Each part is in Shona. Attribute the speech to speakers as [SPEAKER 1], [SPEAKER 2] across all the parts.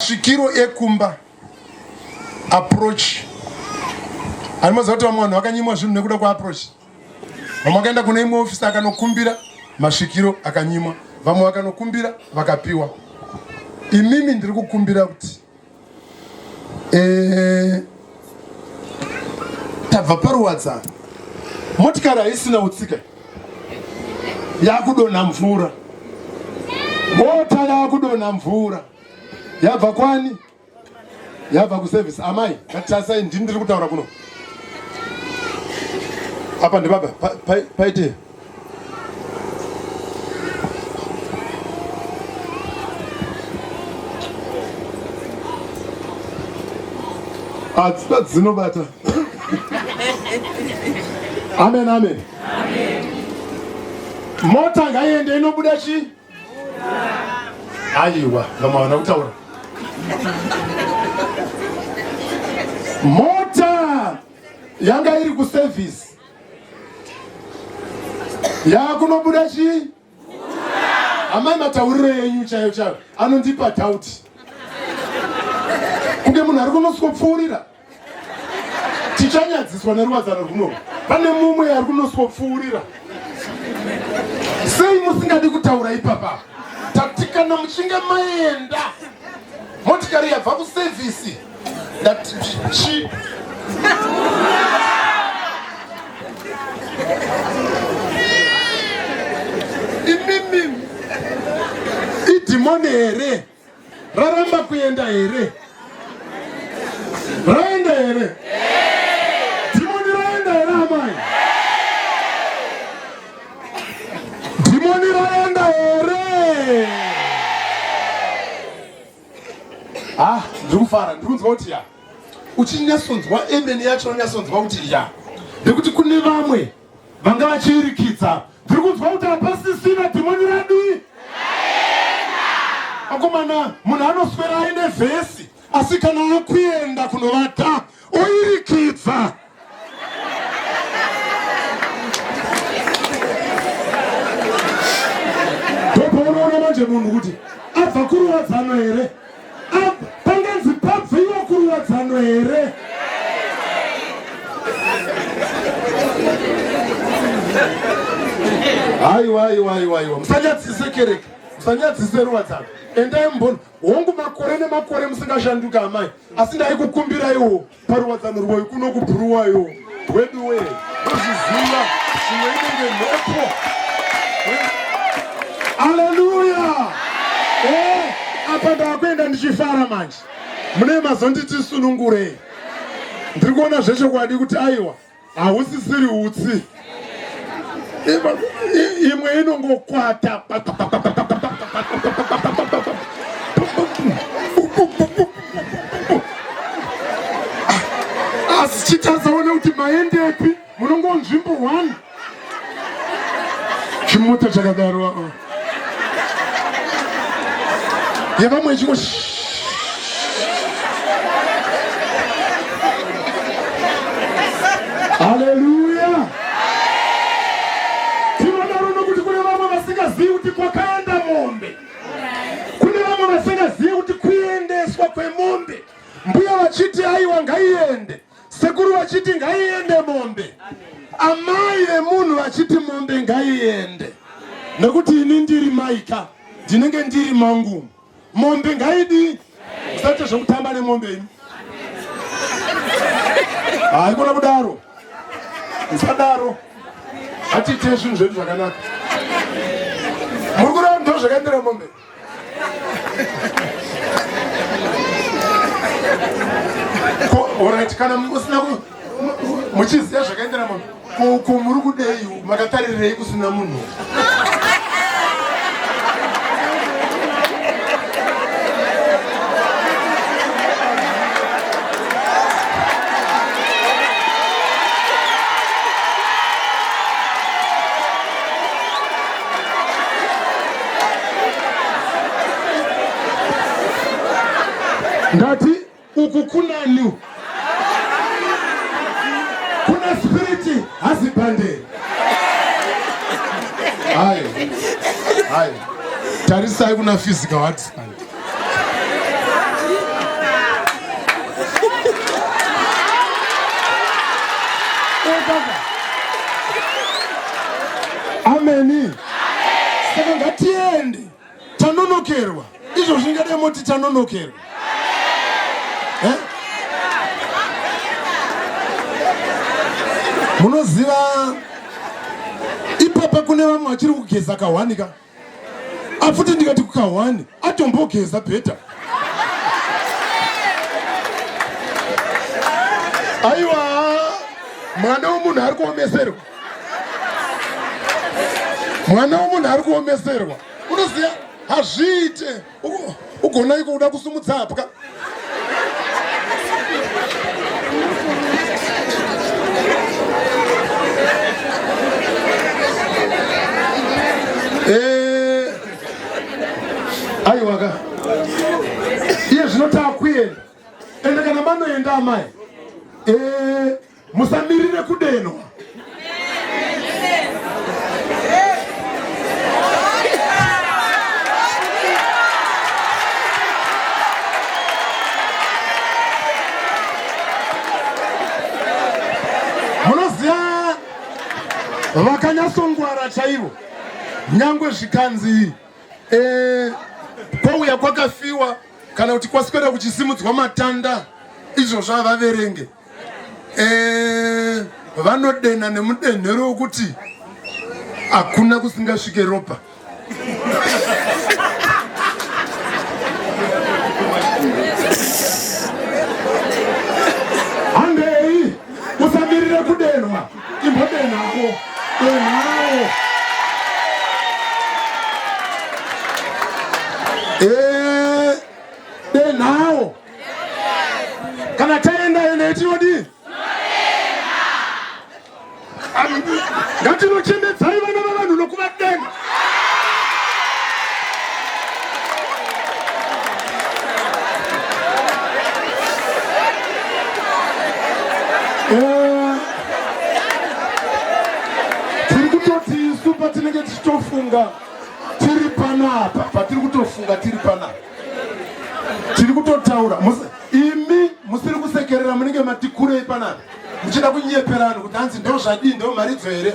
[SPEAKER 1] Svikiro ekumba approach ani maziva kuti vamwe vanhu vakanyimwa zvinhu nekuda kwaapproach vamwe vakaenda kune imwe ofisi akanokumbira masvikiro akanyimwa vamwe vakanokumbira vakapiwa imimi ndiri kukumbira kuti eh, tabva paruwadzano motikari haisina utsika yakudonha mvura mota yakudonha mvura yabva kwani yabva kuservice amai ngatisai ndini ndiri kutaura kuno apa ndibaba paite hadzina dzinobata amen amen mota ngaiende inobuda chii aiwa ngamawana kutaura mota yanga iri kuservice yakunobuda chii amai matauriro enyu chayo chayo anondipa doubt kunge munhu ari kunoswopfuurira tichanyadziswa neruwadzano rwuno pane mumwe ari kunoswopfuurira sei musingadi kutaura ipapa tati kana muchinge maenda motikari yabva kusevhisi ndati chi imimi idhimoni here raramba kuenda here raenda here dhimoni raenda here amai dhimoni raenda here ah ndiri kufara ndiri kunzwa kuti ya uchinyasonzwa emene yacho unonyasonzwa kuti ya nekuti kune vamwe vanga vachiirikidza tiri kunzwa kuti hapasisina dhimoni radii akomana munhu anoswera aine vhesi asi kana akuenda kunovata oirikidza ndopaunoona manje munhu kuti abva kurowadzano here Panganzi pabviwa kuruwadzano here? Aiwa, aiwa, aiwa, aiwa. Musanyadzise kereke. Musanyadzise ruwadzano. Endai mumboni. Hongu makore nemakore musingashanduka amai. Asi ndaikukumbiraiwo. Paruwadzano rwoi kuno kubhuruwayo weduwe wezviziva zvimwe inenge mhepo aleluya eh, apa ndakuenda ndichifara manje mune mazonditi sunungurei ndiri kuona zvechokwadi kuti aiwa hausisiri utsi imwe inongokwata asi chitasaona kuti maendepi munongonzvimbo one chimota chakadaro aa ah. yevamwe chingo haleluya tinodaro nokuti kune vamwe vasingazivi kuti kwakaenda mombe kune vamwe vasingazivi kuti kuendeswa kwemombe mbuya vachiti aiwa ngaiende Sekuru vachiti ngaiende mombe, amai vemunhu vachiti mombe ngaiende, nekuti ini ndiri maika ndinenge ndiri mangu. Mombe ngaidi, usaite zvekutamba nemombe imi. Haikona kudaro, usadaro, hatiite zvinhu zvedu zvakanaka. Muri kuramba zvakaendera mombe Alright, kana musina muchiziva zvakaendera munhu ko muri kudei makatarirei kusina munhu ndati uku kunani kuna spiriti hazibande hayi hayi tarisai kuna physical hardstand ameni saka ngatiende tanonokerwa izvo zvingadai moti tanonokerwa eh? munoziva ipapa kune vamwe vachiri kugeza kahwanika afuti ndikati kukahwani atombogeza bheta aiwa mwana wemunhu ari kuomeserwa mwana wemunhu ari kuomeserwa unoziva hazviite ugonaiko uda kusumudza hapwa eh, aiwaka iye zvinotaa kuenda ende kana manoenda amai eh, Musamirire kudenwa. Munoziva vakanyasongwara chaivo nyangwe zvikanzi eh, kwauya kwakafiwa kana kuti kwaswera kuchisimudzwa matanda izvozvo havaverenge eh, vanodenha nemudenhero wokuti hakuna kusingasvike ropa handei usamirire kudenhwa imbodenhako denhawo eh, denhawo kana taenda ende etinodii ngatinochembedzai vana vavanhu nokuvadenga eh, tiri kutoti isu patinenge tichitofunga tiri panapa patiri kutofunga tiri panapa tiri kutotaura imi musiri kusekerera munenge matikurei panapa muchida kunyepera vanhu kuti hanzi ndo zvadii ndo mharidzo here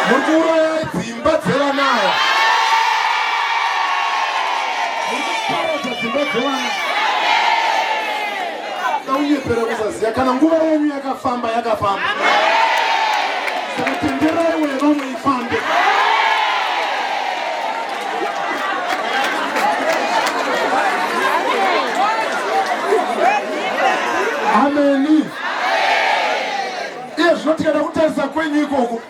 [SPEAKER 1] muri kuurayai dzimba dzevanaya muri kuparadza dzimba dzevana Kaunyepera kusaziva kana nguva yenyu yakafamba yakafamba. Saka tenderai weya vamwe ifambe. Ameni. Iye zvino tikaenda kutarisa kwenyu ikoko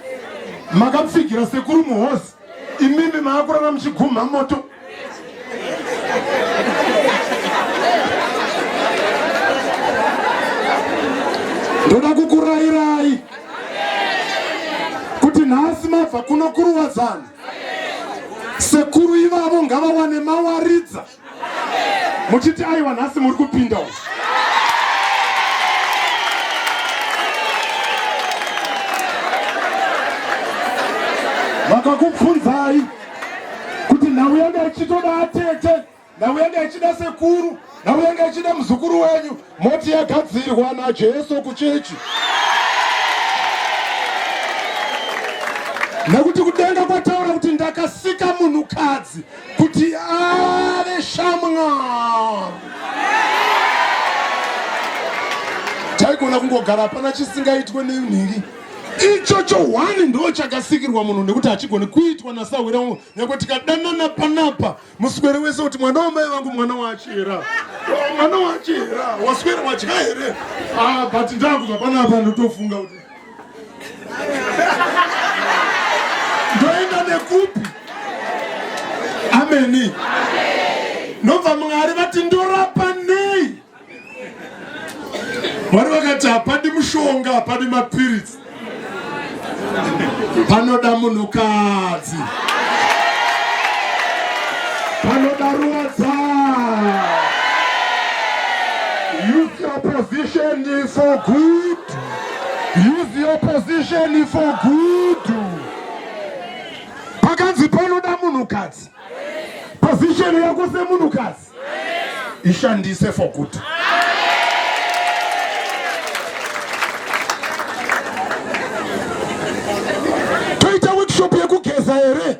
[SPEAKER 1] makapfigira sekuru muhosi imimi maakurara muchigumha moto ndoda kukurayirai kuti nhasi mabva kuno kuruwadzana sekuru ivavo ngavawane mawaridza muchiti aiwa nhasi muri kupinda uko vakakubvunzai kuti nhau yanga ichitoda atete nhau yanga ichida sekuru nhau yanga ichida muzukuru wenyu moti yagadzirwa najesu kuchechi nekuti kudenga kwataura kuti ndakasika munhukadzi kuti ave shamwari taigona kungogara hapana chisingaitwe nenhingi ichocho hwani ndo chakasikirwa munhu nekuti hachigoni kuitwa nasahwira wangu nyakwe tikadanana panapa muswere wese kuti mwana wamai vangu mwana wachera mwana wachera waswera wadya here ah, but ndakubva panapa ndotofunga kuti ndoenda nekupi ameni ndobva mwari vati ndorapa nei mwari vakati hapadi mushonga hapadi mapiritsi panoda munhukadzi panoda ruwadza youth opposition for good Use the opposition for good. Pakanzi panoda munhukadzi. Position yako semunhukadzi ishandise for good. Toita workshop yekugeza here?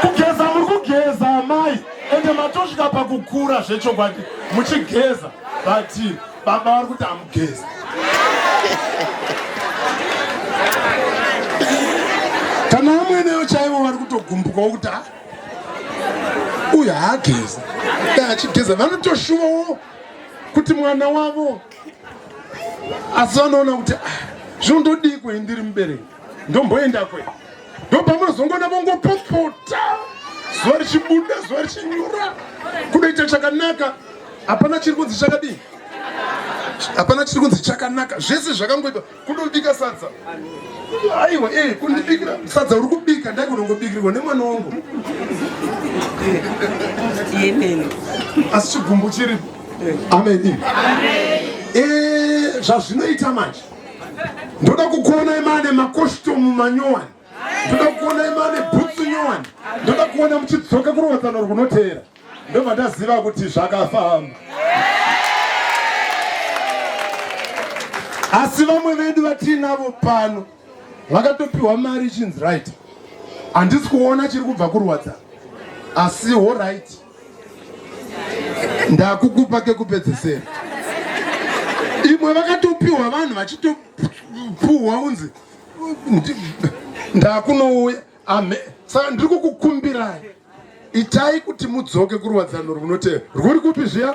[SPEAKER 1] kugeza muri kugeza amai ende matosvika pakukura zvechokwadi muchigeza but baba vari kuti hamugezi kana amweneyo chaivo vari kutogumbukawo kuti ah, uyu haageza achigeza vanotoshuvawo kuti mwana wavo asi vanoona kuti ah, zvinondodii kwei ndiri mubereki ndomboenda kwe ndopamunozongoona vongopopota zuva richibuda zuva richinyura kunoita chakanaka hapana chiri kunzi chakadii hapana chiri kunzi chakanaka zvese zvakangoita kunobika sadza aiwa e eh, kundibikira sadza uri kubika ndai kunongobikirirwa nemwana wangu asi chigumbu chiripo amen e zvazvinoita manje ndoda kukuonai maane makoshitomu manyowani ndoda kukuonai maane bhutsu nyowani ndoda kuona muchidzoka kurovadzano rwunoteera ndobva ndaziva kuti zvakafamba asi vamwe vedu vatiinavo pano vakatopiwa mari ichinzi right handisi kuona chiri kubva kurwadza asi horit ndakukupa kekupedzesera imwe vakatopiwa vanhu vachitopuhwa unzi ndakunouya ame saka ndiri kukukumbirai itai kuti mudzoke kuruwadzano rwunoteera rwuri kupi zviya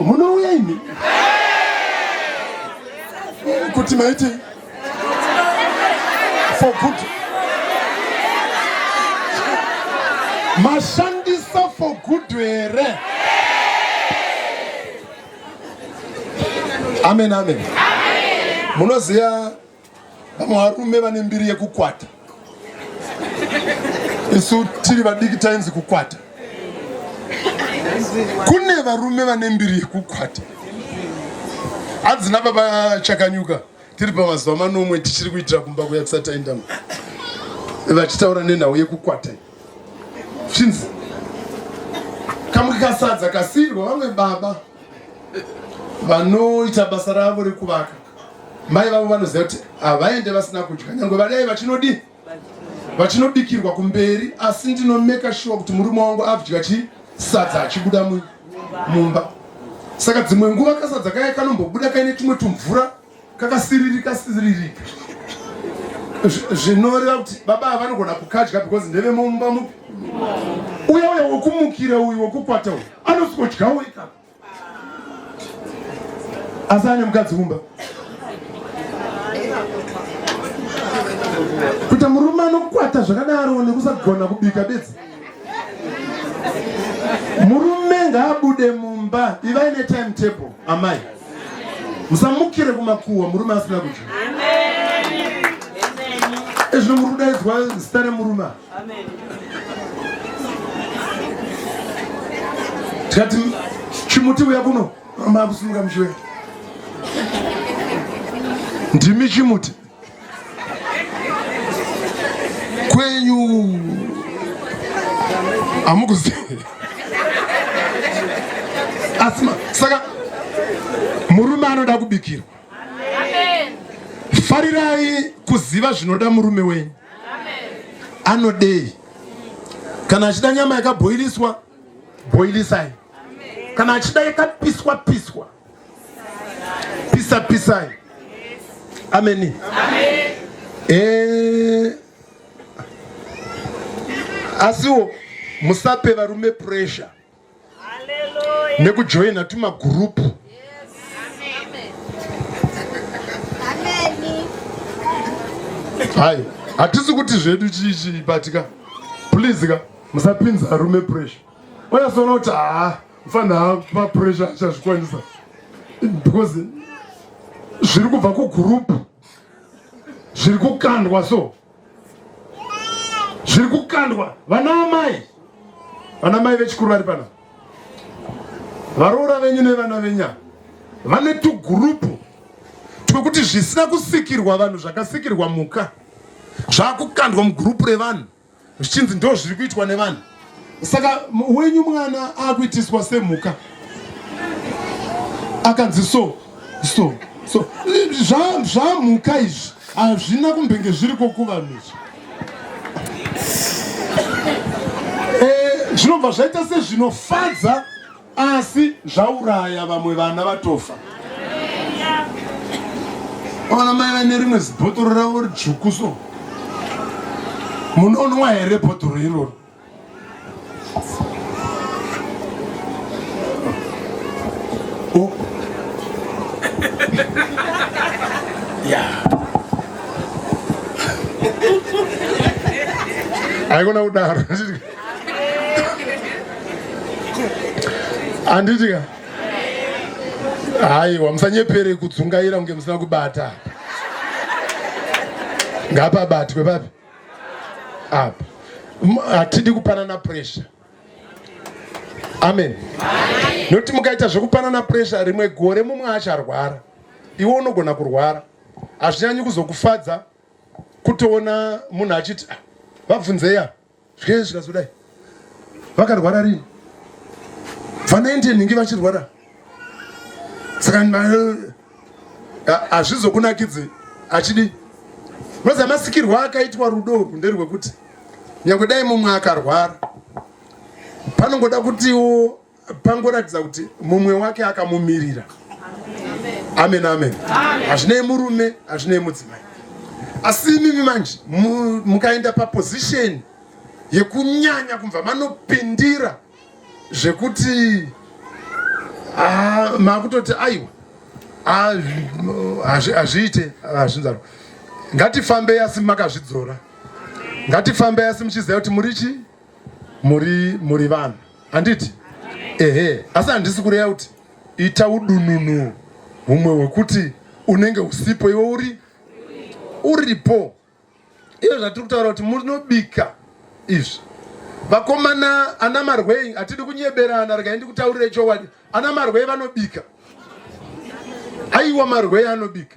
[SPEAKER 1] Munouya imi kuti maiti for good mashandisa for good here amen amen munoziva Vamwe varume vane mbiri yekukwata, isu tiri vadiki tainzi kukwata. Kune varume vane mbiri yekukwata. Hadzina baba Chakanyuka tiri pamazuva manomwe tichiri kuitira kumba kuya kusataindama vachitaura nenhau yekukwata chinzi kamwe kasadza kasirwa vamwe baba vanoita basa ravo rekuvaka Mai vavo vanoziva kuti havaende vasina kudya nyangwe vadai vachinodii vachinobikirwa kumberi asi ndinomeka shuwa kuti murume wangu abvya chi sadza achibuda mumba saka dzimwe nguva kasadza kaye kanombobuda kaine tumwe tumvura kakasiririka siririka zvinoreva kuti baba ava vanogona kukadya because ndevemumba mupi uya uya wekumukira uyu wekukwata uyu anosikodyawo ikapa asi ane mukadzi kumba kuita murume anokwata zvakadaro nekusagona kubika bedzi murume ngaabude mumba ivai netime table amai musamukire kumakuhwa murume asina kudya ezvino muri kudaidzwa zita remurume Amen. Tikati chimuti uya kuno makusimuka mushiwe. Ndimi chimuti. Kwenyu amukuzivi asima saka murume anoda kubikirwa farirai kuziva zvinoda murume wenyu anodei kana achida nyama yakabhoiliswa bhoilisai kana achida yakapiswa piswa pisa pisai ameni eh, asiwo musape varume pressure nekujoina tumagurupu hayi hatisi kuti zvedu chii chii but ka please ka musapinza arume pressure oyasoona kuti haa mfana hapa pressure achazvikwanisa because zviri kubva kugurupu zviri kukandwa so zviri kukandwa vana amai vana mai vechikuru vari pana varoora venyu nevana venya vane tugurupu twekuti zvisina kusikirwa vanhu zvakasikirwa muka zvakukandwa mugurupu revanhu zvichinzi ndo zviri kuitwa nevanhu Saka wenyu mwana akuitiswa semhuka akanzi so so so zvamhuka izvi hazvina kumbenge zviri kokuvanhu izvi eh, zvinobva zvaita sezvinofadza asi zvauraya vamwe vana vatofa ona mai vane rimwe zibhotoro ravo ridzvuku so munonwa here bhotoro iroro oh. haikona kudaro anditika haiwa musanyepere kudzungaira kunge musina kubata ngapabatwe papi apa hatidi kupanana pressure amen nokuti mukaita zvekupanana pressure rimwe gore mumwe acharwara iwe unogona kurwara hazvinyanyi kuzokufadza kutoona munhu achiti ah, vabvunzeya Zvee zvikazodai vakarwara rini vanaindi nhingi vachirwara saka hazvizokunakidzi achidi roza masikirwa akaitwa rudo urwu nderwekuti nyange dai mumwe akarwara panongoda kutiwo pangoratidza kuti mumwe wake akamumirira amen amen hazvinei murume hazvinei mudzimai asi imimi manje mukaenda paposition yekunyanya kumva manopindira zvekuti ah, makutoti aiwa ah, hazviite hazvinzaro ngatifambei asi makazvidzora ngatifambei asi muchiziva kuti muri chii muri muri vanhu handiti ehe asi handisi kureya kuti ita udununu humwe hwekuti unenge usipo iwe uri uripo iyo zvatiri kutaura kuti munobika izvi vakomana ana marwei hatidi kunyeberana regai ndikutaurire chokwadi ana marwei vanobika aiwa marwei anobika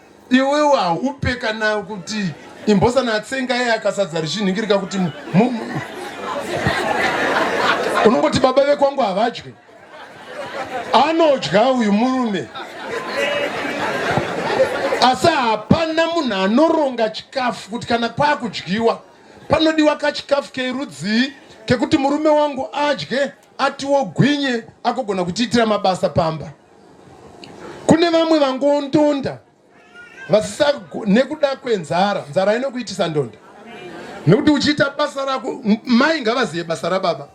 [SPEAKER 1] iwewo haupe kana kuti imbosana atsenga iye akasadza richinhingirika kuti unongoti baba vekwangu havadye anodya uyu murume asi hapana munhu anoronga chikafu kuti kana kwakudyiwa panodiwa kachikafu kerudzii kekuti murume wangu adye atiwo gwinye akogona kutiitira mabasa pamba kune vamwe vangondonda vasisa nekuda kwenzara nzara inokuitisa ndonda nekuti uchiita basa rako mai ngavazive basa rababa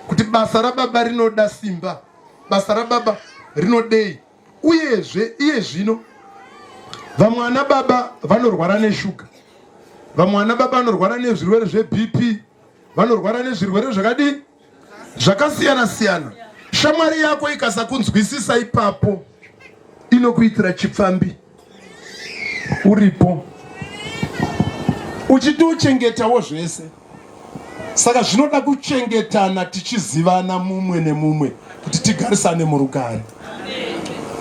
[SPEAKER 1] kuti basa rababa rinoda simba basa rababa rinodei uyezve iye zvino vamwe ana baba vanorwara neshuga vamwe ana baba vanorwara nezvirwere zvebp vanorwara nezvirwere zvakadii zvakasiyana siyana shamwari yako ikasakunzwisisa ipapo inokuitira chipfambi uripo uchitochengetawo zvese saka zvinoda kuchengetana tichizivana mumwe nemumwe kuti tigarisane murugare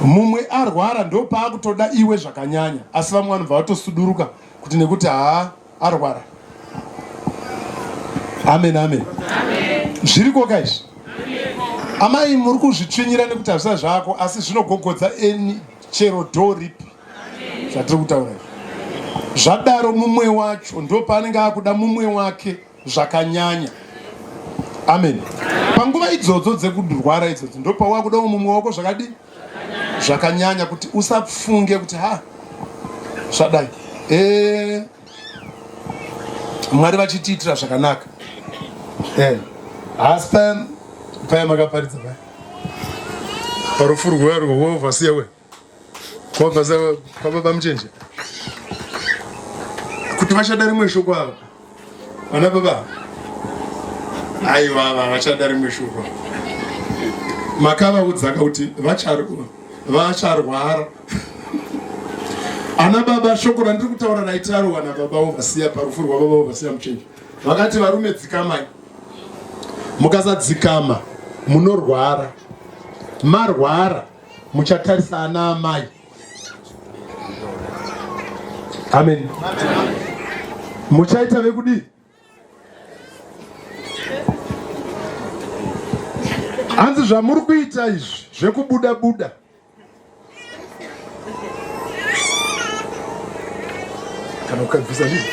[SPEAKER 1] mumwe arwara ndopaakutoda iwe zvakanyanya asi vamwe vanobva vatosuduruka kuti nekuti haa arwara amen amen zviriko ka izvi amai muri kuzvitsvinyira nekuti hazvisa zvako asi zvinogogodza eni chero do ripi zvatiri kutaura izvi zvadaro mumwe wacho ndo paanenge akuda mumwe wake zvakanyanya amen panguva idzodzo dzekurwara idzodzo ndo pawakudawo mumwe wako zvakadii zvakanyanya kuti usafunge kuti ha zvadai e, mwari vachitiitira zvakanaka e, haasi paya paya makaparidza paya parufu rwuya rwoovhasiya we kuovhasiya kwababa muchenje kuti vachada rimwe shoko ava Vana baba aiwa vachada rimwe shoko makavaudzaka kuti vacharwara ana baba shoko randiri kutaura naitaro ana baba ovasiya parufu rwababa ovasiya muchenji vakati varume dzikamai mukasadzikama munorwara marwara muchatarisa ana amai Amen. Muchaita vekudii? Hanzi zvamuri kuita izvi zvekubuda buda. Kana ukabvisa ndizvo.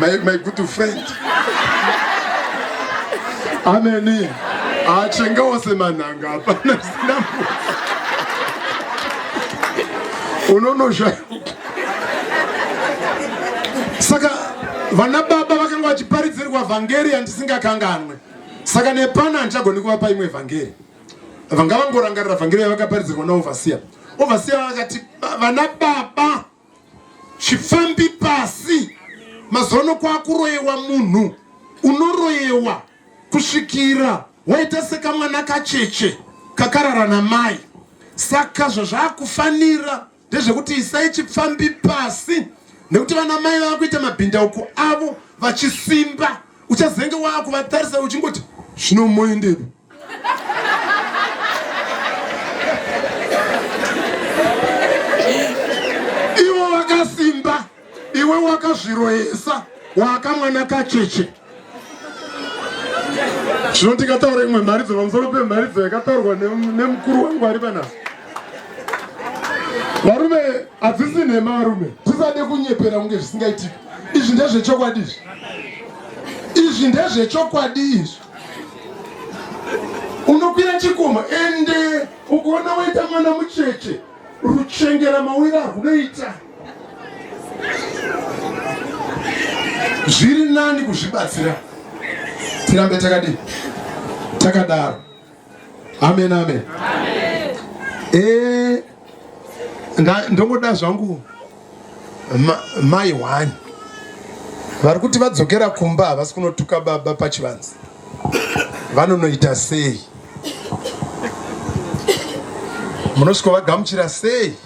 [SPEAKER 1] my, my good friend ameni achengawo ah, semanhanga hapana zina unonosha saka vana baba vakanga vachiparidzirwa vhangeri yandisingakanganwe saka nepano handichagoni kuvapa imwe vhangeri vanga vangorangarira vhangeri yavakaparidzirwa naovhasiya ovhasiya vakati vana baba chifambi pasi mazono kwakuroyewa munhu unoroyewa kusvikira waita sekamwana kacheche kakarara namai saka zvazvakufanira ndezvekuti isai chipfambi pasi nekuti vana mai vava kuita mabhindauko avo vachisimba uchazenge waakuvatarisa uchingoti zvinomoendepo ivo vakasimba iwe wakazviroyesa waakamwana kacheche zvino tikataura imwe mharidzo pamusoro pemharidzo yakataurwa nemukuru wangu ari panaso varume hadzisi nhema varume tisade kunyepera kunge zvisingaitika izvi ndezvechokwadi izvi izvi ndezvechokwadi izvi unokwira chikomo ende ukaona waita mwana mucheche ruchengera mawira rwunoita zviri nani kuzvibatsira tirambe takadii takadaro Amen, amen. Amen. Eh, ndongoda zvangu mai one vari kuti vadzokera kumba havasi kunotuka baba pachivanzi vanonoita sei munosviko vagamuchira sei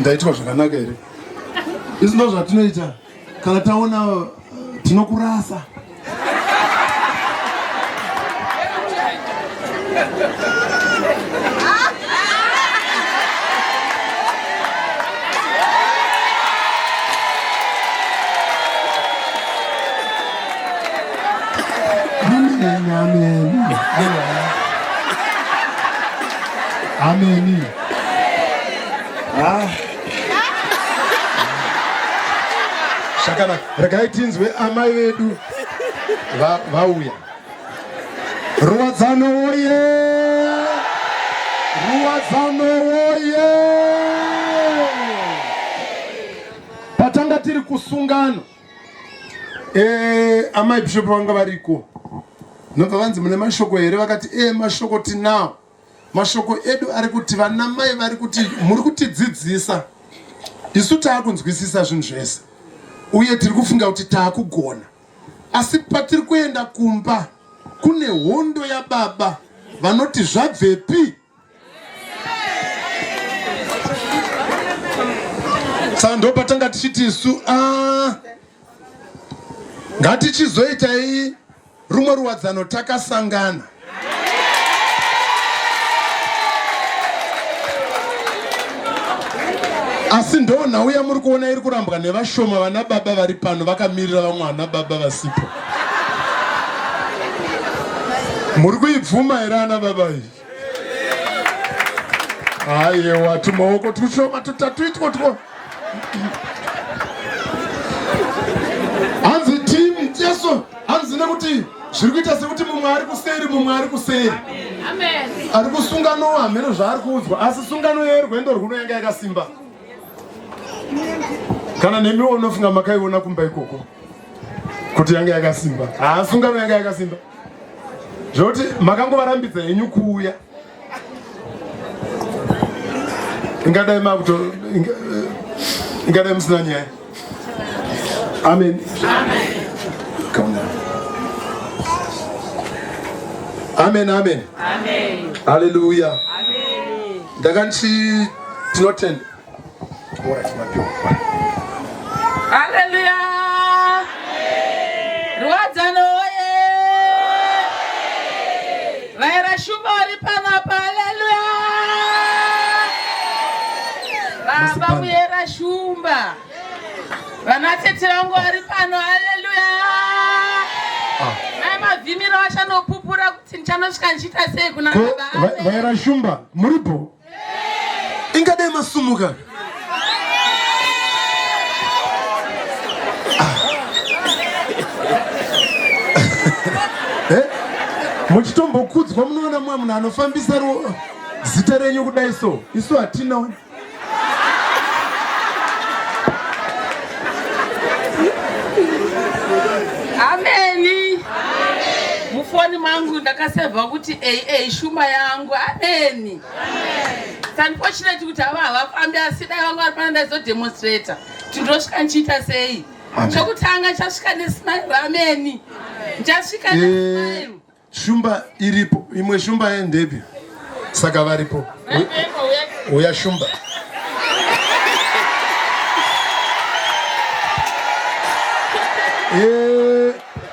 [SPEAKER 1] ndaitwa zvakanaka here izvi ndo zvatinoita kana taona uh, tinokurasa Amen. Amen. Ameni. Ah. Zvakanaka. Regai tinzwe amai vedu vauya. Ruwadzano woye! Ruwadzano woye! Patanga tiri kusungano. Eh, amai bishop vanga variko. Nobva vanzi mune mashoko here vakati eh mashoko tinawo. Mashoko edu ari kuti vanamai vari kuti muri kutidzidzisa isu taakunzwisisa zvinhu zvese uye tiri kufunga kuti taakugona asi patiri kuenda kumba kune hondo yababa vanoti zvabvepi saka ndopatanga tichiti isu ah, ngatichizoitai Rumwe ruwadzano takasangana. Asi ndo nhau yamuri kuona iri kurambwa nevashoma vana baba vari pano vakamirira vamwe vana baba vasipo. Muri kuibvuma here ana baba iyi? ayewa tumaoko tushoma tutatu itwo two hanzi tim jesu hanzi nekuti zviri kuita sekuti mumwe ari kuseri mumwe ari kuseri ari kusungano hameno zvaari kuudzwa asi sungano yerwendo rwuno yanga yakasimba kana nemiwo unofunga makaiona kumba ikoko kuti yanga yakasimba haasungano yanga yakasimba zvekuti makangovarambidza henyu kuuya ingadai makuto ingadai musina nyaya amen amen amen haleluya ndakanti tinotenda
[SPEAKER 2] Haleluya! Ruwadzano oye! Vaera shumba vari pano apa, haleluya! Baba Muyera Shumba, vanatete vangu vari pano, haleluya! Ah. Mai Mavhimiro vachanopupura kuti ndichanosvika ndichiita sei kuna baba. Vaera Shumba,
[SPEAKER 1] muripo? ingadai masumuka ah. eh? muchitombokudzwa munoona mumwe munhu anofambisa zita renyu kudai so isu hatina
[SPEAKER 2] mufoni mangu ndakasevha kuti aa shuma yangu ameni Amen. Unfortunately kuti ava havafambi asi dai vanga vari pana ndaizodemonstrator kuti ndosvika ndichiita sei chokutanga chasvika nesmile rameni ndichasvika eh, nesmile shumba
[SPEAKER 1] iripo imwe shumba yendepi saka varipo uya shumba Yeah.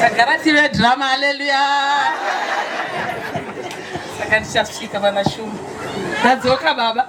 [SPEAKER 2] tagara tive drama haleluya saka ndichasvika vanashuma ndadzoka baba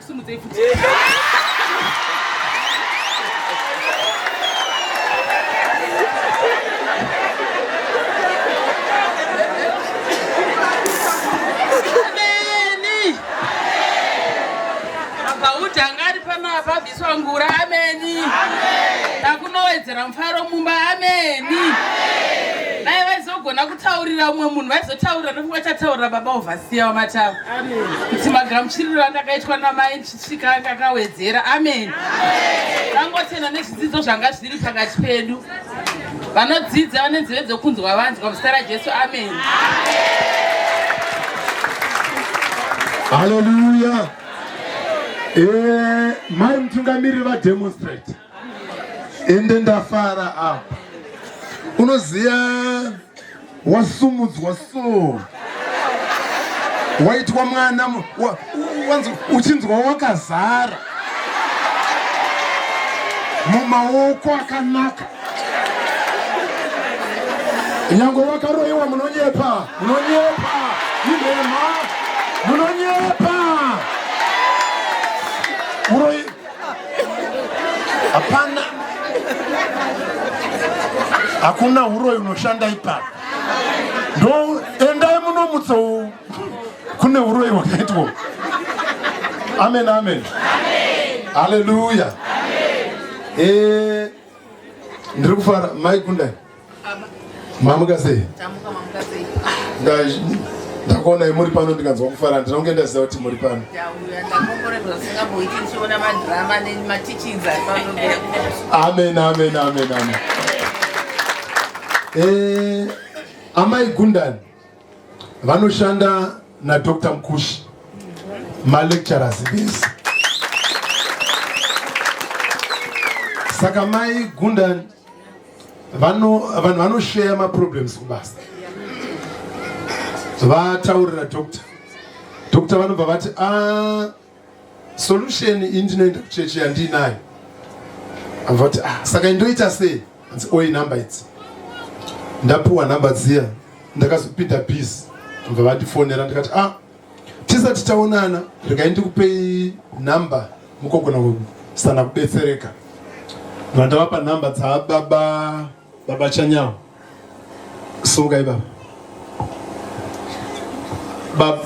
[SPEAKER 2] simudzei futi vabviswa ngura ameni takunowedzera mufaro mumba ameni dai vaizogona kutaurira umwe munhu vaizotaurira nekuti vachataurira baba ovasiya wamataura kuti magamuchiriro andakaitwa namai ndichisvika anga akawedzera amen tangotenda nezvidzidzo zvanga zviri pakati pedu vanodzidza vane nzeve dzokunzwa vanzwa muzita rajesu amen
[SPEAKER 1] haleluya eh, mai mutungamiriri vademonstrate ende ndafara apa unoziva wasumudzwa so waitwa mwana uchinzwa wakazara mumaoko akanaka nyange wakaroyiwa munonyepa munonyepa inhema munonyepa Hapana, hakuna huroyi unoshanda ipapo. Ndo endai munomutsa kune huroyi hwakaitwa. Amen, amen, haleluya. Eh, ndiri kufara mai Gundai, Mamuka sei? Tamuka mamuka sei? Ndakuonai muri pano ndikanzwa kufara handina kunge ndaziva kuti muri pano. Amen amen amen amen. Eh Amai Gundani vanoshanda na Dr. Mkushi ma lecturers vese. Saka mai Gundani vanhu vanosheya maproblems kubasa vataurira doctor doctor vanobva vati ah, solution iyi ndinoenda kuchechi yandiinayo vati ah, saka indoita sei anzi oi number idzi ndapiwa number dziya ndakazopinda bus bva vatifonera ndikati ah, tisati taonana regai ndikupei nhamba mukogona kusana kubetsereka vandavapa nhamba dzababa baba chanyawo sungai baba baba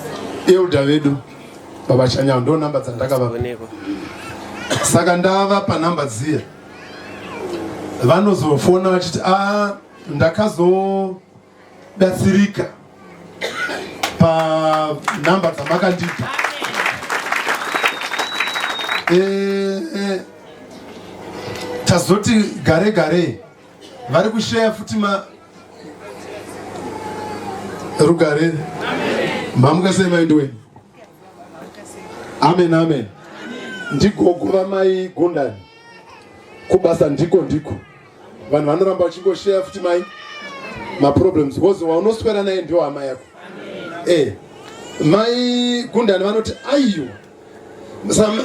[SPEAKER 1] elda vedu baba chanyawo ndo nhamba dzandakavapa saka ndavapa nhamba dziya vanozofona vachiti a ah, ndakazo ndatsirika panhamba dzamakandipa eh, eh, tazoti gare gare vari kusheya futi ma rugare mamuka sei vaindi wenu amen amen ndigogo vamai gondani kubasa ndiko ndiko vanhu vanoramba vachingosheya futi mai maproblems because waunoswera naye ndiwo hama yako eh mai gundani vanoti aiwa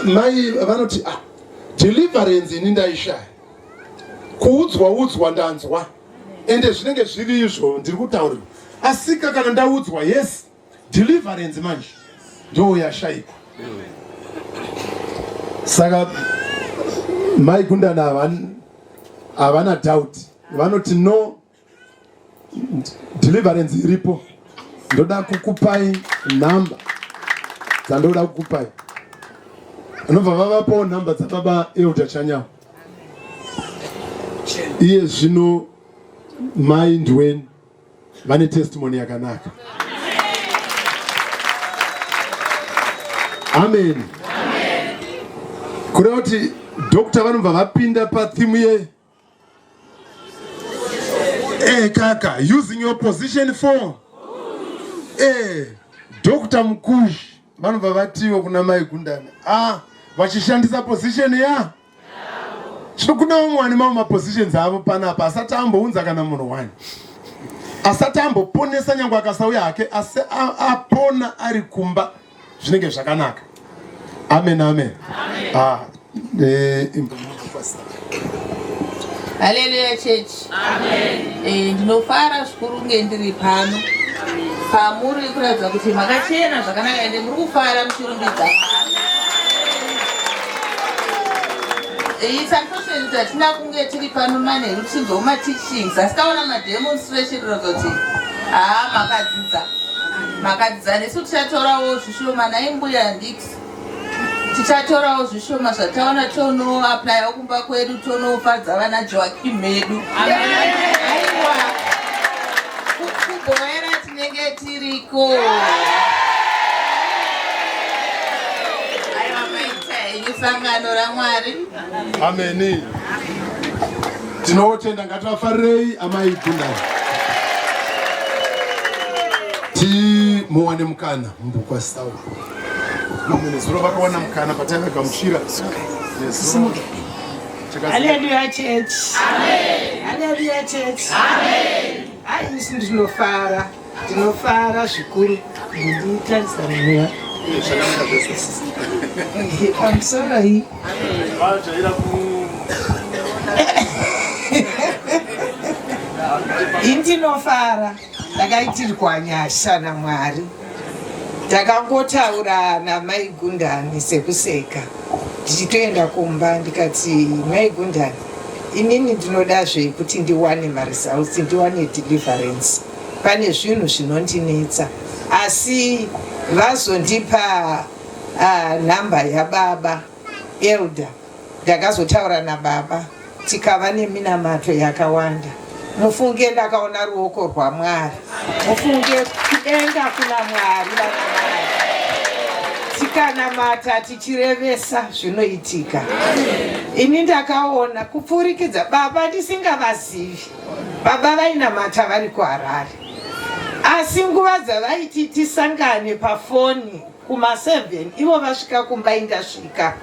[SPEAKER 1] mai vanoti ah, deliverance ini ndaishaya kuudzwa udzwa ndanzwa ende zvinenge zviri izvo ndiri kutaurira asika kana ndaudzwa yes deliverance manje ndoo yashaikwa saka mai gundana havana doubt vanoti no deliverance iripo ndoda kukupai nhamba dzandoda kukupai anobva vavapawo nhamba dzababa elda chanyawo iye zvino mai ndiweni vane testimony yakanaka. Amen. Kureva kuti doctor vanobva vapinda pathimu ye eh, kaka using your position for eh, doctor Mukushi vanobva vatiwo kuna mai Gundani ah, vachishandisa position ya yeah. so kune vamwe vane mamwe mapositions avo panapa asati ambounza kana munhu wani asati amboponesa nyange akasauya hake asi apona ari kumba zvinenge zvakanaka amen amen ah, eh,
[SPEAKER 3] haleluya church Eh, ndinofara zvikuru kunge ndiri pano pamuri kuratidza kuti makachena zvakanaka ende muri kufara muchirumbidza isakosheni tatina kunge tiri pano manheru tichinzwa kumateachings asi taona mademonstration kuratidza kuti haa makadzidza makadzidza nesu tichatorawo zvishoma naimbuya ndix tichatorawo zvishoma zvataona tonoaplyawo kumba kwedu tonofadza vana joakim medu aiwa kuboera tinenge tiriko aiwa maita henyu sangano ramwari ameni
[SPEAKER 1] tinotenda ngativafarirei amai gundai timuwane mukana mubhuku asitaura nezuro vakawana mukana pataive kamushira Hallelujah church.
[SPEAKER 4] Amen. Hallelujah church. Amen.
[SPEAKER 3] Hayi isi
[SPEAKER 4] ndinofara. Ndinofara zvikuru. Ndinotarisa mweya. I'm sorry. Ndinofara. Ndakaitirwa nyasha naMwari. Takangotaura namai Gundani sekuseka ndichitoenda kumba ndikati, mai Gundani, inini ndinodazve kuti ndiwane maresults, ndiwane deliverance. Pane zvinhu zvinondinetsa asi vazondipa uh, ah, nhamba yababa Elder ndakazotaura nababa
[SPEAKER 5] tikava neminamato yakawanda mufunge ndakaona ruoko rwamwari mufunge kudenga kuna mwari vanamai tikanamata tichirevesa zvinoitika ini ndakaona kupfurikidza baba ndisingavazivi baba vainamata vari kuharare asi nguva dzavaiti tisangane pafoni Kuma 7 ivo vasvika kumba indasvika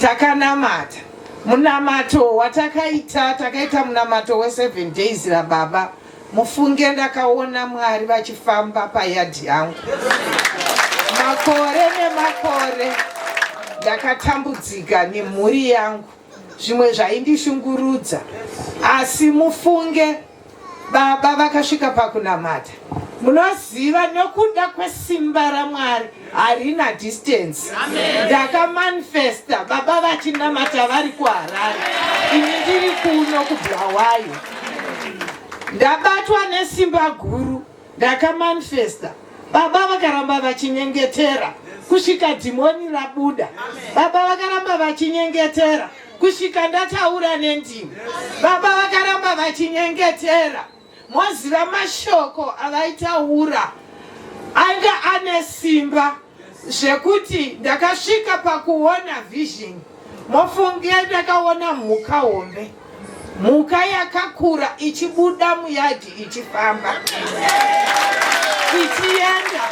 [SPEAKER 5] takanamata munamato watakaita takaita munamato we 7 days rababa mufunge ndakaona mwari vachifamba payadhi yangu makore nemakore ndakatambudzika nemhuri yangu zvimwe zvaindishungurudza asi mufunge Baba vakasvika pakunamata. Munoziva nokuda kwesimba raMwari harina distance. Ndakamanifesta baba vachinamata vari kuHarare, ini ndiri kuno kuBulawayo. Ndabatwa nesimba guru Ndakamanifesta baba vakaramba vachinyengetera kusvika dhimoni rabuda. Baba vakaramba vachinyengetera kusvika ndataura nendimi. Baba vakaramba vachinyengetera moziva mashoko avaitaura anga ane simba zvekuti ndakasvika pakuona vision mofunge ndakaona mhuka hombe mhuka yakakura ichibuda muyadhi ichifamba ichienda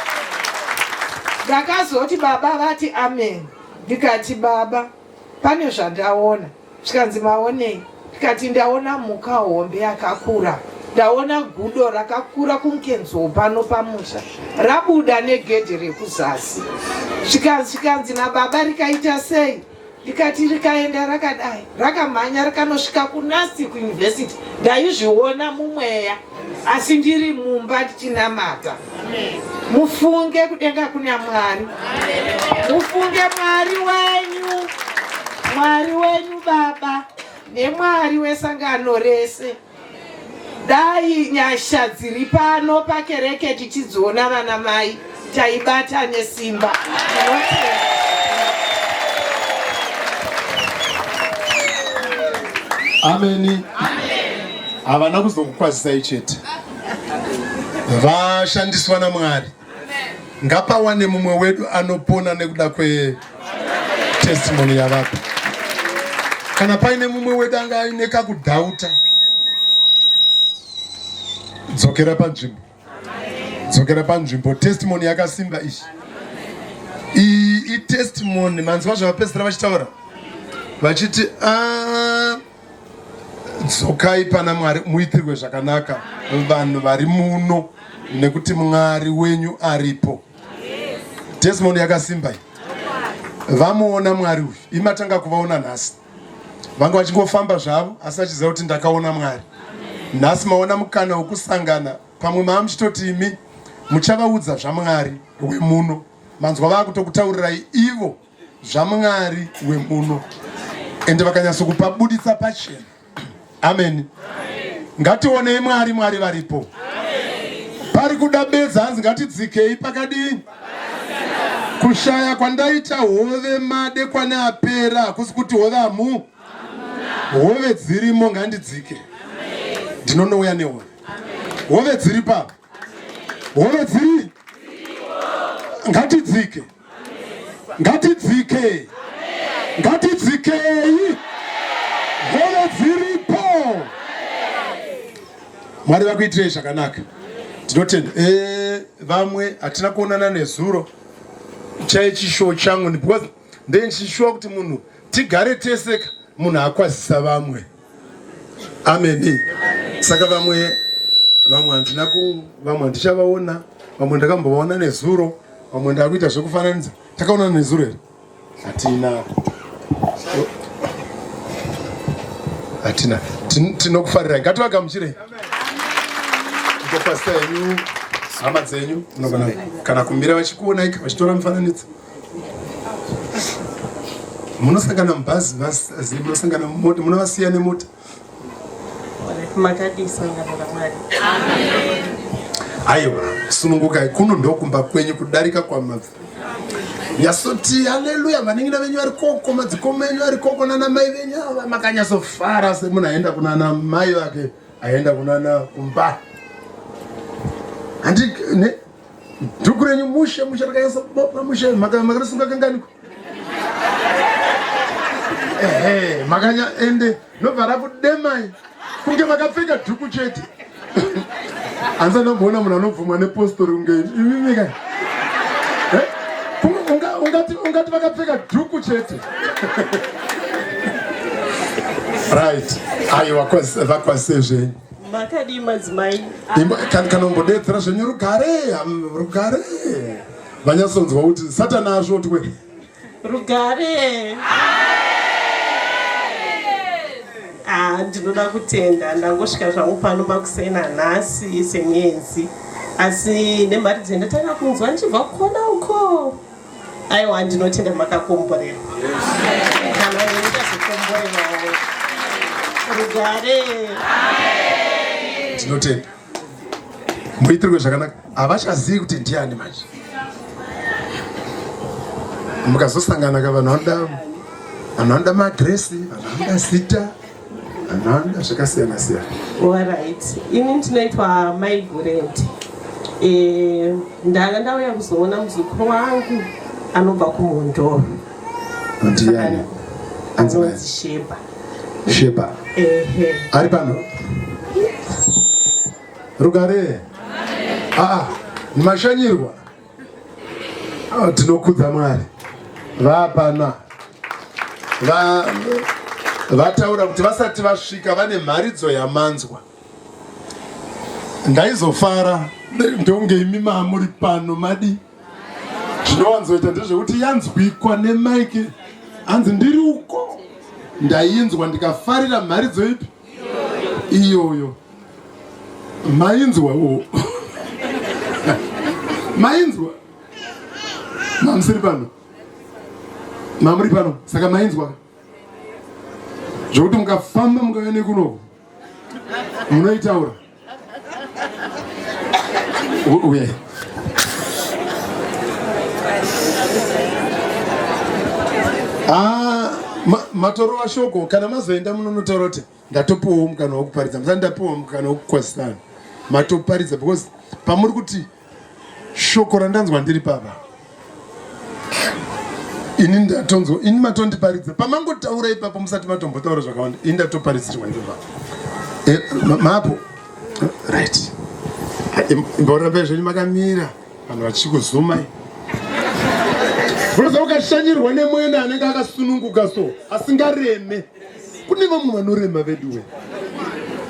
[SPEAKER 5] ndakazoti baba vati amen ndikati baba pane zvandaona zvikanzi maonei ndikati ndaona mhuka hombe yakakura ndaona gudo rakakura kumkenzoo pano pamusha rabuda negedhe rekuzasi zvikanzi nababa rikaita sei ndikati rikaenda rakadai rakamhanya rikanosvika kunasi kuuniversity ndaizviona mumweya asi ndiri mumba ndichinamata mufunge kudenga kuna Mwari, mufunge Mwari wenyu, Mwari wenyu Baba neMwari wesangano rese. Dai nyasha dziri pano pakereke tichidziona vana mai taibata nesimba.
[SPEAKER 1] Ameni. Havana kuzokukwazisai chete. vashandiswa naMwari. Ngapawane mumwe wedu anopona nekuda kwe testimony yavapa. Kana paine mumwe wedu anga aine kakudhauta, dzokera panzvimbo, dzokera panzvimbo. Testimony yakasimba ichi iyi itestimony manzwa zvavapedzisira vachitaura vachiti ah, dzokai pana mwari muitirwe zvakanaka vanhu vari muno nekuti mwari wenyu aripo testimony yakasimba iyi vamuona mwari uyu imatanga kuvaona nhasi vanga vachingofamba zvavo asi vachiziva kuti ndakaona mwari nhasi maona mukana wekusangana pamwe maa muchitoti imi muchavaudza zvamwari wemuno manzwa vaakutokutaurirai ivo zvamwari wemuno ende vakanyatso kupabuditsa pachena ameni ngationei mwari mwari varipo pari kuda bedza hanzi ngatidzikei pakadii kushaya kwandaita hove made kwane apera hakusi kuti hove amu hove dzirimo ngandidzike ndinonouya nehove hove dziri papa hove dziri ngatidzike ngatidzike ngatidzikei hove dziripo mwari vakuitirei zvakanaka tinotenda eh, vamwe hatina kuonana nezuro chai chishowo changu because ndichishuwa kuti munhu tigare teseka munhu akwazisa vamwe ameni saka vamwe vamwe handina ku vamwe handichavaona vamwe ndakambovaona nezuro vamwe ndakuita zvekufananidza takaona nezuro here hatina hatina tinokufarira ngativagamuchirei ngopasita yenyu hama dzenyu munogona kana kumira vachikuonai vachitora mufananidzo munosangana mubhazi munosangana mumota munovasiya nemota makadii sangano ramwari aiwa sunungukai kuno ndokumba kwenyu kudarika kwamabva yasoti haleluya vaningina venyu vari koko madzikoma enyu ari koko nana mai venyu ava makanyazofara semunhu aenda kunana mai vake aenda kunana kumba handi Dhuku renyu mushe mushe rakanyasa kubopa mushe makarisunga kanganiko. Ehe makanya ende nobva rakudemai kunge makapfeka dhuku chete. Hanzi anomboona munhu anobvumwa nepostori kunge imimi kai. Eh? Ungati ungati vakapfeka dhuku chete. Right. Ayo vakwasezve. Makadii
[SPEAKER 4] madzimai? Kanombodedzera
[SPEAKER 1] zvenyu rugare, rugare. Vanyasonzwa kuti satana asvotwe. Rugare.
[SPEAKER 4] Ah, ndinoda kutenda ndangosvika zvangu pano makusena nhasi semuenzi. Asi nemari dzendatanga kunzwa ndichibva kukona uko. aiwa ndinotenda makakomborerwa kana neni ndazokomborerwawo rugare
[SPEAKER 1] ndinotenda muitirwe zvakanaka havachazivi kuti ndiani manje mukazosangana ka vanhu vanoda vanhu vanoda maadresi vanhu vanoda zita nhanda zvakasiyana siyana orit
[SPEAKER 4] ini ndinoitwa maigoret eh, ndanga ndauya kuzoona muzukuru wangu anobva kumhondoro
[SPEAKER 1] ndiani
[SPEAKER 4] anonzi sheba sheba
[SPEAKER 1] ehe ari pano rugare aa ah, ah, mashanyirwa Ah, tinokudza Mwari vapana va, vataura kuti vasati vasvika vane mharidzo yamanzwa ndaizofara ndonge imi mamuri pano madi zvinowanzoita ndezvekuti yanzwikwa nemaiki hanzi ndiri uko ndainzwa ndikafarira mharidzo ipi iyoyo mainzwa wo mainzwa mamusiri pano mamuri pano saka mainzwa zvokuti mukafamba mukauya nekunoku munoitaura Ah, matorova shoko kana mazoenda munonotaura kuti ndatopiwawo mukana wekuparidza musati ndapiwa mukana wekukwazisana matoparidza because pamuri kuti Shoko randanzwa ndiri papa. Ini ndatonzwa, ini matondiparidza. Pamangotaura ipapo musati matombotaura zvakawanda. Ini ndatoparidzirwa ndiri papa. Eh, mapo. Right. Mboramba zvenyu makamira. Vanhu vachikuzuma. Unoziva ukashanyirwa nemwena anenge akasununguka so asingareme. Kune vamwe vanorema veduwe.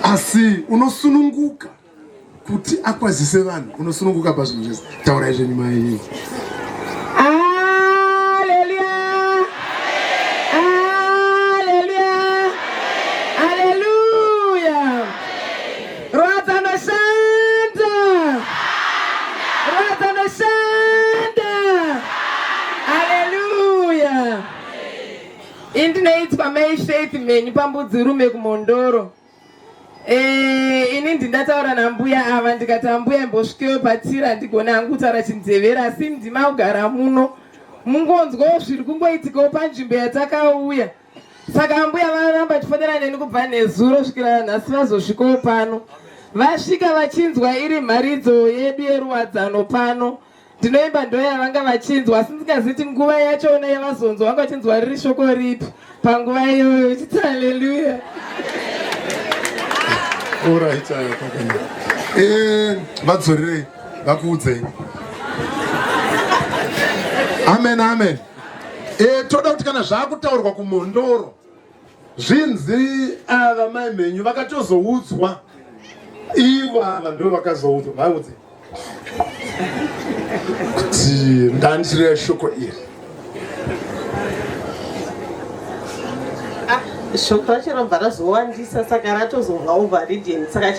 [SPEAKER 1] Asi unosununguka. kuti akwazise vanhu unosununguka pazvinhu zvese taurai zvenyu mai ini
[SPEAKER 6] ndinoitwa mai faith mhenyu pambudzirume kumhondoro Eh, ini ndingataura nambuya ava ndikati ambuya imbosvikeyo patiri handigone hangu kutaura chinzevera asi ndima kugara muno mungonzwawo zviri kungoitikawo panzvimbo yatakauya saka ambuya varamba tifonera neni kubva nezuro svikira nhasi vazosvikawo pano vasvika vachinzwa iri mharidzo yedu yeruwadzano pano ndinoimba ndo yavanga vachinzwa asi ndingaziti nguva yachona yavazonzwa vanga vachinzwa riri shoko ripi panguva iyoyo uchiti haleluya
[SPEAKER 1] eh, vadzorerei vakuudzei amen amen e, toda kuti kana zvaakutaurwa kumhondoro Zvinzi ava mai mhenyu vakatozoudzwa ivo ava ndo vakazoudzwa vaudze kuti ndandireva shoko iri
[SPEAKER 4] shoko racho rabva razowandisa saka ratozonga overridden saka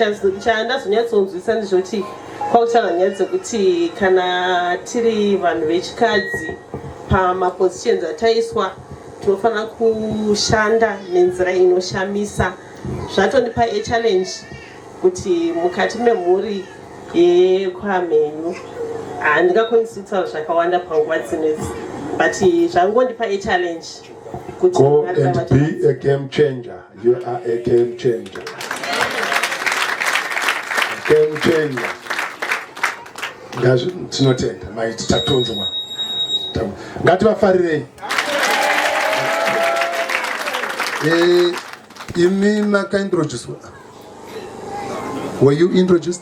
[SPEAKER 4] chandazonyatsonzwisa ndezvekuti kwautaura nyaya dzekuti kana tiri vanhu vechikadzi pamapositions ataiswa Tinofanira kushanda nenzira inoshamisa. Zvatondipa a challenge kuti mukati memhuri yekwamhenyu handingakwanisi kutaura zvakawanda panguva dzinedzi but zvangondipa a challenge kuti Go and be
[SPEAKER 1] a game changer. You are a game changer. Game changer. Ngazvi tinotenda mai tatonzwa. Ngativafarirei. Eh, imi makaintroduce. Were you introduced?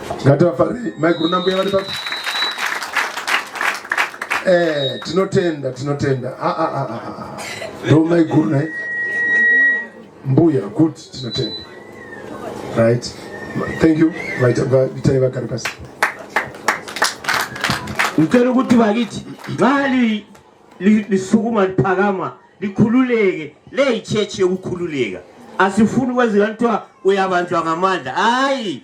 [SPEAKER 7] Ngativafarei
[SPEAKER 1] maiguru nambuya vari papi? Eh, tinotenda tinotenda. Ah ah ah ah. ah. Ndo maiguru naye. Mbuya good tinotenda. Right. Thank you. Vaita vaita vakari pasi.
[SPEAKER 7] Ngicela ukuthi bakithi ngani lisukuma liphakama likhululeke leyichurch yokukhululeka asifuni kwenzeka kuthiwa uyabanjwa ngamandla hayi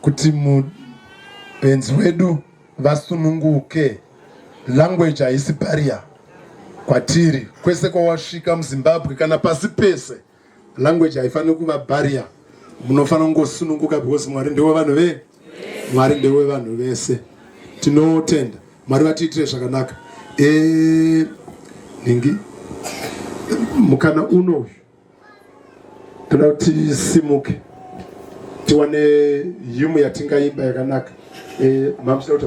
[SPEAKER 1] kuti mubenzi wedu vasununguke language haisi barrier kwatiri kwese kwawasvika muzimbabwe kana pasi pese language haifaniri kuva barrier munofanira kungosununguka because mwari ndewe vanhu ve mwari ndewe vanhu vese tinotenda mwari vatiitire zvakanaka e, ningi mukana uno uyu toda kuti tisimuke tiwane yumu yatingaimba yakanaka eh, mamsdauta